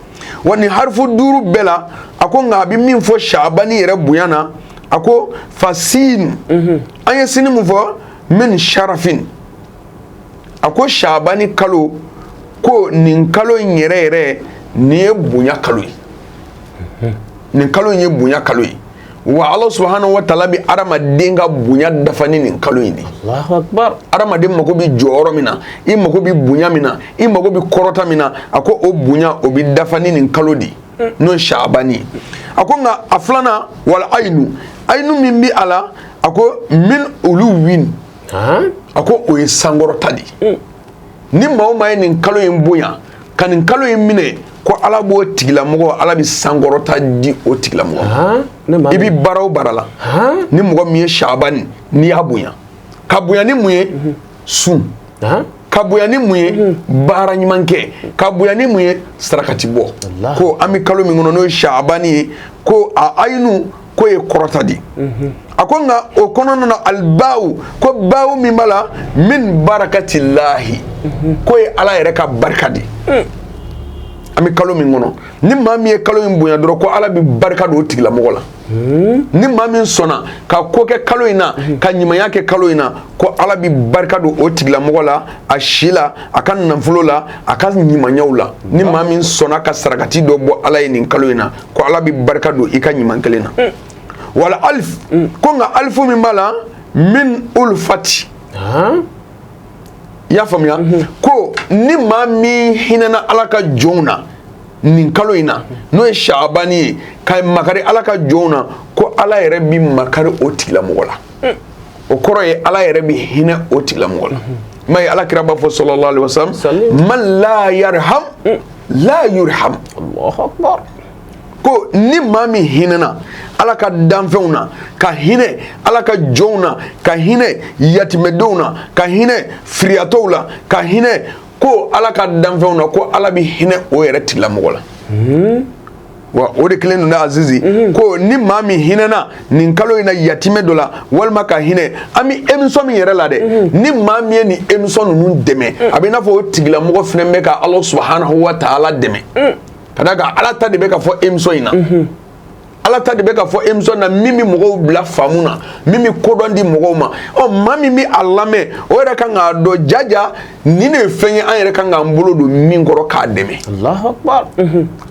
wa nin harifu duuru bɛɛ la a ko nka a bɛ min fɔ saabani yɛrɛ bonya na a ko fasiinu an ye sini min fɔ min sarafin a ko saabani kalo ko nin kalo in yɛrɛ yɛrɛ nin ye bonya kalo ye nin kalo in ye bonya kalo ye wa ala subahanahu wa taala bi adamaden ka bonya dafa ni nin kalo in de adamaden mago bi jɔyɔrɔ min na i mago bi bonya min na i mago bi kɔrɔta min na a ko o bonya o bi dafa ni nin kalo de mm. n'o ye saabani ye a ko nka a filanan wal ayinu ayinu min bi a la a ko min uluwin a ko o ye sankɔrɔta de ye mm. ni maa o maa ye nin kalo in bonya ka nin kalo in minɛ ko ala b'o tigilamɔgɔ ala bɛ sankɔrɔta di o tigilamɔgɔ i bɛ baara o baara la ni mɔgɔ min ye saabani n'i y'a bonya ka bonya ni mun ye mhm. sun ka bonya ni mun ye mhm. baara ɲuman kɛ ka bonya ni mun ye sarakati bɔ ko an bɛ kalo min kɔnɔ n'o ye saabani ye ko a ayinu k'o ye kɔrɔta de a ko nka o kɔnɔna na alibaw ko baw min b'a la min barakatilahi k'o ye ala yɛrɛ ka barika de an bɛ kalo min kɔnɔ ni maa min ye kalo in bonya dɔrɔn ko ala bɛ barika don o tigilamɔgɔ la ni maa min sɔnna ka ko kɛ kalo in na ka ɲumanya kɛ kalo in na ko ala bɛ barika don o tigilamɔgɔ la a si la a ka nafolo la a ka ɲumanyaw la ni maa min sɔnna ka sarakati dɔ bɔ ala ye nin kalo in na ko ala bɛ barika don i ka ɲuman kelen na mm. wal alif mm. ko nka alifu min b'a la min ulfati i y'a faamuya mm-hmm. ko ni maa min hinɛna ala ka jɔnw na nin kalo in na n'o ye saabani ye ka makari ala ka jɔnw na ko ala yɛrɛ bi makari o tigilamɔgɔ la mm. o kɔrɔ ye ala yɛrɛ bi hinɛ o tigilamɔgɔ la mm-hmm. i m'a ye ala kira b'a fɔ sallallahu alaihi wasallam man la yarham la yurham Allahu akbar ko ni maa min hinɛna ala ka danfɛnw na ka hinɛ ala ka jɔnw na ka hinɛ yatimɛdenw na ka hinɛ firiyatɔw la ka hinɛ ko ala ka danfɛnw na ko ala bɛ hinɛ o yɛrɛ tigilamɔgɔ la hmm? wa o de kelen don azizi mhm. ko ni maa min hinɛna nin kalo in na yatimɛ dɔ la walima ka hinɛ an bɛ emisɔn min yɛrɛ la dɛ mhm. ni maa min ye nin emisɔn ninnu dɛmɛ mm. a bɛ i n'a fɔ o tigilamɔgɔ fana bɛ ka ala subahanahu wa taala dɛmɛ mm. ka d'a kan ala ta de bɛ ka fɔ emisɔn in na. Mhm. ala ta de bɛ ka fɔ emisɔn na min bɛ mɔgɔw bila faamu na min bɛ kodɔn di mɔgɔw ma ɔ maa min bɛ a lamɛn o yɛrɛ kan k'a dɔn jaja nin de ye fɛn ye an yɛrɛ kan k'an bolo don min kɔrɔ k'a dɛmɛ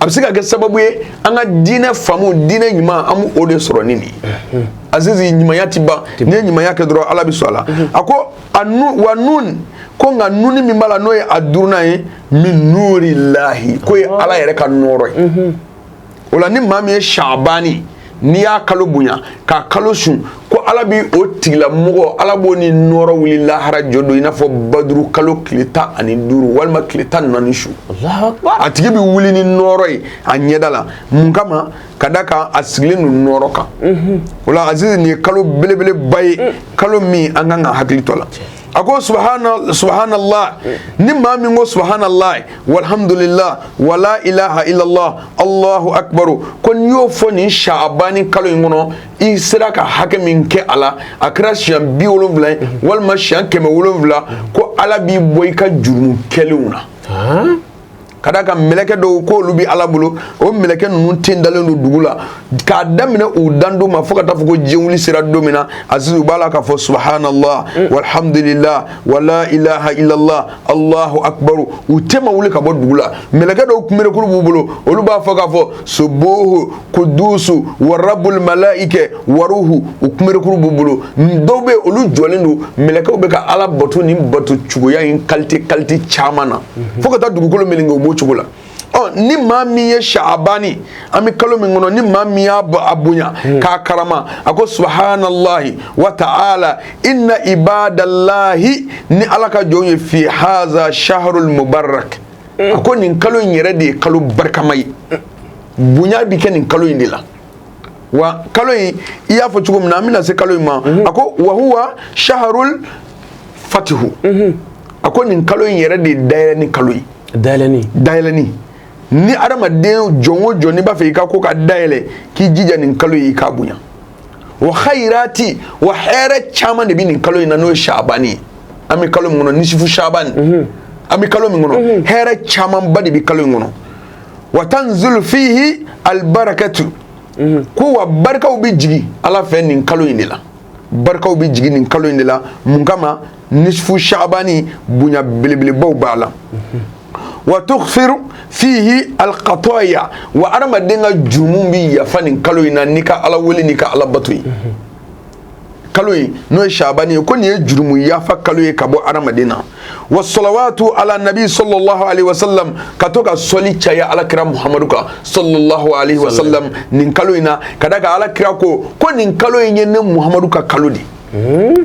a bɛ se ka kɛ sababu ye an ka diinɛ faamu diinɛ ɲuman an b'o de sɔrɔ ni nin ye azizi ɲumanya tɛ ban n'i ye ɲumanya kɛ dɔrɔn ala bɛ sɔn a la a ko a nu wa nun ko nka nuni min b'a la n'o ye a duurunan ye min nuri lahi k'o ye ala yɛrɛ ka nɔɔrɔ ye o la ni maa min ye sabani n'i y'a kalo bonya k'a kalo sun ko ala bi o tigilamɔgɔ ala b'o ni nɔɔrɔ wuli lahara jɔ don i n'a fɔ baduru kalo tile tan ani duuru walima tile tan ni naani su a tigi bi wuli ni nɔɔrɔ ye a ɲɛda la mun kama ka d'a kan a sigilen don nɔɔrɔ kan mhm. o la azizi nin ye kalo belebeleba ye mm. kalo min an kan ka hakili to la a ko subahanala ni maa min ko subahanala walihamdulila wala ilaha ilala alahu akibaro ko n'i y'o fɔ nin sabani kalo in kɔnɔ i sera ka hakɛ min kɛ a la a kɛra siɲɛ bi wolonwula ye walima siɲɛ kɛmɛ wolonwula ko ala b'i bɔ i ka jurumu kɛlenw na ka d'a kan mɛlɛkɛ dɔw k'olu bɛ ala bolo o mɛlɛkɛ ninnu ten dalen don dugu la k'a daminɛ u dan don ma fo ka taa fɔ ko diɲɛ wuli sera don min na azizi u b'a la k'a fɔ subahanala walihamdulila wala ilaha ilala alahu akibaru u ten ma wuli ka bɔ dugu la mɛlɛkɛ dɔw kunberekuru b'u bolo olu b'a fɔ k'a fɔ sobo kudusu warabul malaike waruhu u kunberekuru b'u bolo dɔw bɛ olu jɔlen don mɛlɛkɛw bɛ ka ala bato ni bato cogoya in kalite kalite caman na mhm. fo ka taa dugukolo melenge u b'o cogo la ɔ ni maa min ye shaabani an bɛ kalo min kɔnɔ ni maa min y'a a bonya mhm. k'a karama a ko subahanallahi wa ta'ala inna ibadalahi ni ala ka jɔnw ye fi haza shaharul mubarak a ko nin kalo in yɛrɛ de ye kalo barikama ye bonya bɛ kɛ nin kalo in de la wa kalo in i y'a fɔ cogo min na an bɛna se kalo in ma mhm. a ko wahuwa saharul fatihu mhm. a ko nin kalo in yɛrɛ de ye dayɛlɛni kalo ye dayɛlɛni dayɛlɛni ni adamaden jɔn o jɔn n'i b'a fɛ i ka ko ka dayɛlɛ k'i jija nin kalo in i k'a bonya wa khayrati wa hɛrɛ caman de bɛ nin kalo in na n'o ye shabani ye an bɛ kalo min kɔnɔ nisifu shabani mhm. an bɛ kalo min kɔnɔ mhm. hɛrɛ camanba de bɛ kalo in kɔnɔ wa tanzulu fihi albarakatu mhm. ko wa barikaw bɛ jigin ala fɛ nin kalo in de la barikaw bɛ jigin nin kalo in de la mun kama nisfu shabani bonya belebelebaw b'a la wa tughfiru fihi alkhataya wa adamaden ka jurumu bi yafa nin kalo in na n'i ka ala wele n'i ka ala bato ye kalo in n'o ye shabani ye ko nin ye jurumu yafa kalo ye ka bɔ adamaden na wa salawatu ala nabi sallallahu alaihi wasallam ka to ka sɔli caya ala kira muhamadu kan sallallahu alaihi wasallam nin kalo in na ka d'a kan ala kira ko ko nin kalo in ye ne muhamadu ka kalo de ye hmm?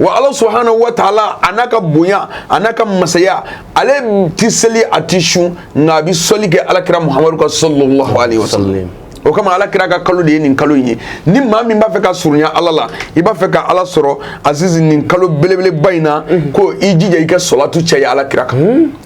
wa ala subhanahu wa taala a n'a ka bonya a n'a ka masaya ale ti seli a ti sun nka a bi sɔli kɛ alakira muhamadu kan sallallahu alaihi wa sallam o kama ala kira ka kalo de ye nin kalo in ye ni maa min b'a fɛ ka surunya ala la i b'a fɛ ka ala sɔrɔ azizi nin kalo belebeleba in na ko i jija i ka sɔlatu caya ala kira kan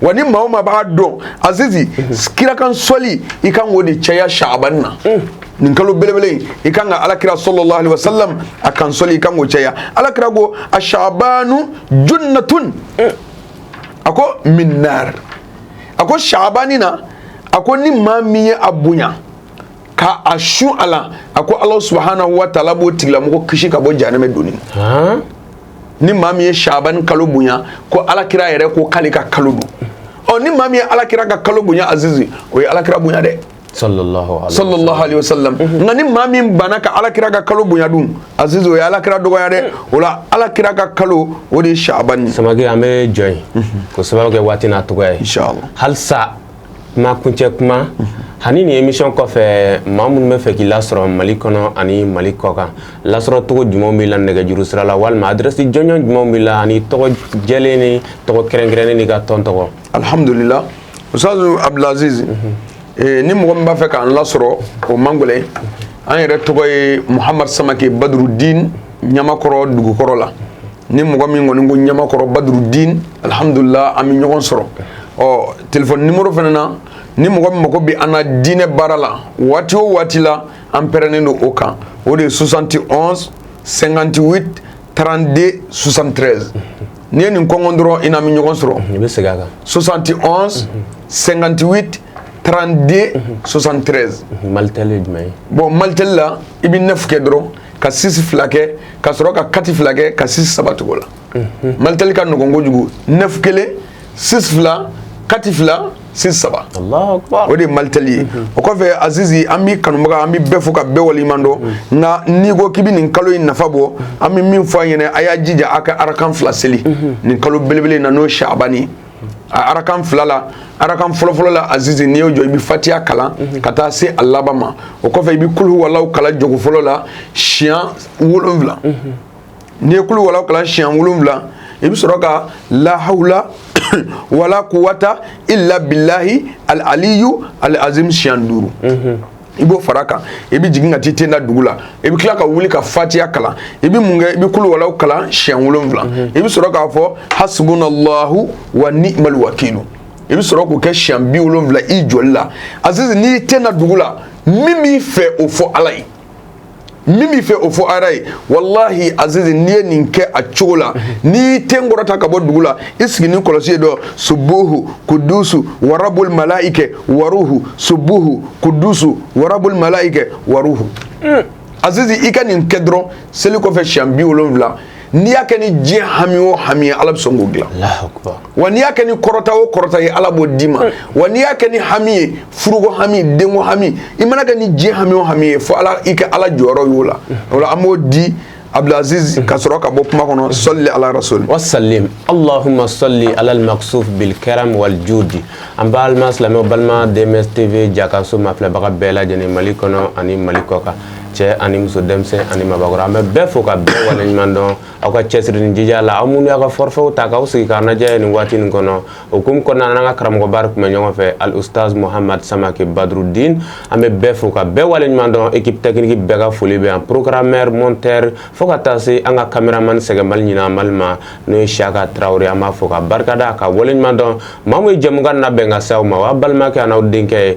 wa ni maa o maa b'a dɔn azizi kira kan sɔli i kan k'o de caya shaabani na nin kalo belebele in i kan ka alakira sallallahu alaihi wasallam a kan sɔli i kan k'o caya alakira ko a shaabanu junnatun a ko min nar a ko shaabani na a ko ni maa min ye a bonya ka a sun a la a ko ala subhanahu wa taala b'o tigilamɔgɔ kisi ka bɔ jahanɛmɛ donni ni maa min ye shaaban kalo bonya ko alakira yɛrɛ ko k'ale ka kalo don ɔ ni maa min ye alakira ka kalo bonya azizi o ye alakira bonya dɛ sallallahu alaihi wasallam nka ni maa min banna ka alakira ka kalo bonya dun azizi o ye alakira dɔgɔya dɛ o la alakira ka kalo o de ye shaaban ye samakɛ an bɛ jɔ yen k'o sababu kɛ waati n'a dɔgɔya ye halisa kuma kuncɛ kuma ani nin émission kɔfɛ maa minnu b'a fɛ k'i lasɔrɔ Mali kɔnɔ ani Mali kɔkan lasɔrɔcogo jumɛnw b'i la nɛgɛjuru sira la walima adresse jɔnjɔn jumɛnw b'i la ani tɔgɔ jɛlen ni tɔgɔ kɛrɛnkɛrɛnnen n'i ka tɔn tɔgɔ. Alihamudulila Usitazu Abudulaziz ni mɔgɔ min b'a fɛ k'an lasɔrɔ o man gɛlɛn an yɛrɛ tɔgɔ ye Muhamadu Samake Badurudini Ɲamakɔrɔ dugukɔrɔ la. ni mɔgɔ min kɔni ko ɲamakɔrɔ badurudin alihamdulila an bɛ ɲɔgɔn sɔrɔ ɔ téléphone numéro fana na ni mɔgɔ min mago bɛ an na diinɛ baara la waati o waati la an pɛrɛnnen don o kan o de ye soixante et onze cinquante-huit trente-deux soixante-treize n'i ye nin kɔnkɔn dɔrɔn i n'an bɛ ɲɔgɔn sɔrɔ bɛ segin a kan soixante et onze cinquante-huit trente-deux soixante-treize bon malitel la i bɛ neuf kɛ dɔrɔn ka sisi fila kɛ ka sɔrɔ ka kati fila kɛ ka sisi saba tugu la malitɛli ka nɔgɔn kojugu nefu kelen sisi fila kati fila sisi saba o de ye malitɛli ye o kɔfɛ azizi an b'i kanubaga an bɛ bɛɛ fo ka bɛɛ waleɲuman dɔn nka n'i ko k'i bɛ nin kalo in nafa bɔ an bɛ min fɔ aw ɲɛ na a y'a jija a ka arakan fila seli nin kalo belebele in na n'o ye shabani a arakan fila la arakan fɔlɔfɔlɔ la azizi n'i y'i jɔ i bɛ fatiya kalan mhm. ka taa se a laban ma o kɔfɛ i bɛ kul huwallahu kalan jɔko fɔlɔ la siɲɛ wolonwula mhm. n'i ye kul huwallahu kalan siɲɛ wolonwula i bɛ sɔrɔ ka lahawula wala kuwata illa billahi al aliyu al azim siɲɛ duuru mhm. i b'o fara kan i bɛ jigin ka t'i ten da dugu la i bɛ tila ka wuli ka fatiya kalan i bɛ mun kɛ i bɛ kul huwallahu kalan siɲɛ wolonwula mhm. i bɛ sɔrɔ k'a fɔ hasibunallahu wa ni'mal wakilu i bɛ sɔrɔ k'o kɛ siɲɛ bi wolonwula i jɔli la azizi n'i ten da dugu la min b'i fɛ o fɔ ala ye min b'i fɛ o fɔ ala ye walahi azizi n'i ye nin kɛ a cogo la n'i y'i ten kɔrɔta ka bɔ dugu la i sigi ni kɔlɔsi ye dɔ subuhu kudusu warabul malaike waruhu subuhu kudusu warabul malaike waruhu azizi i ka nin kɛ dɔrɔn seli kɔfɛ siɲɛ bi wolonwula n'i y'a kɛ ni diɲɛ hami o hami ye ala bɛ sɔn k'o dilan wa n'i y'a kɛ ni kɔrɔta o kɔrɔta ye ala b'o d'i ma wa n'i y'a kɛ ni hami ye furuko hami denko hami i man'a kɛ ni diɲɛ hami o hami ye fo ala i ka ala jɔyɔrɔ y'o la o la an b'o di abdulaziz ka sɔrɔ ka bɔ kuma kɔnɔ sɔli ala rasuli wasalim allahumma sɔli alal maksuf bil karam wal judi an balima silamɛw balima dms tv jakaso mafilɛbaga bɛɛ lajɛlen mali kɔnɔ ani mali kɔkan cɛ ani muso denmisɛnnin ani mabakɔrɔ an bɛ bɛɛ fo ka bɛɛ wale ɲuman dɔn aw ka cɛsiri ni jija la aw minnu y'aw ka forfaitw ta k'aw sigi k'an lajɛ nin waati nin kɔnɔ o hukumu kɔnɔna na an ka karamɔgɔba de tun bɛ ɲɔgɔn fɛ al ustaz muhamad samake badrudin an bɛ bɛɛ fo ka bɛɛ wale ɲuman dɔn équipe technique bɛɛ ka foli bɛ yan programmeur monteur fo ka taa se an ka cameraman sɛgɛnbali ɲinanbali ma n'o ye siyaka tarawele an b'a fo ka barikada ka wale ɲuman dɔn maa min ye jɛmukan labɛn ka se aw ma o y'aw balimakɛ an'aw denkɛ ye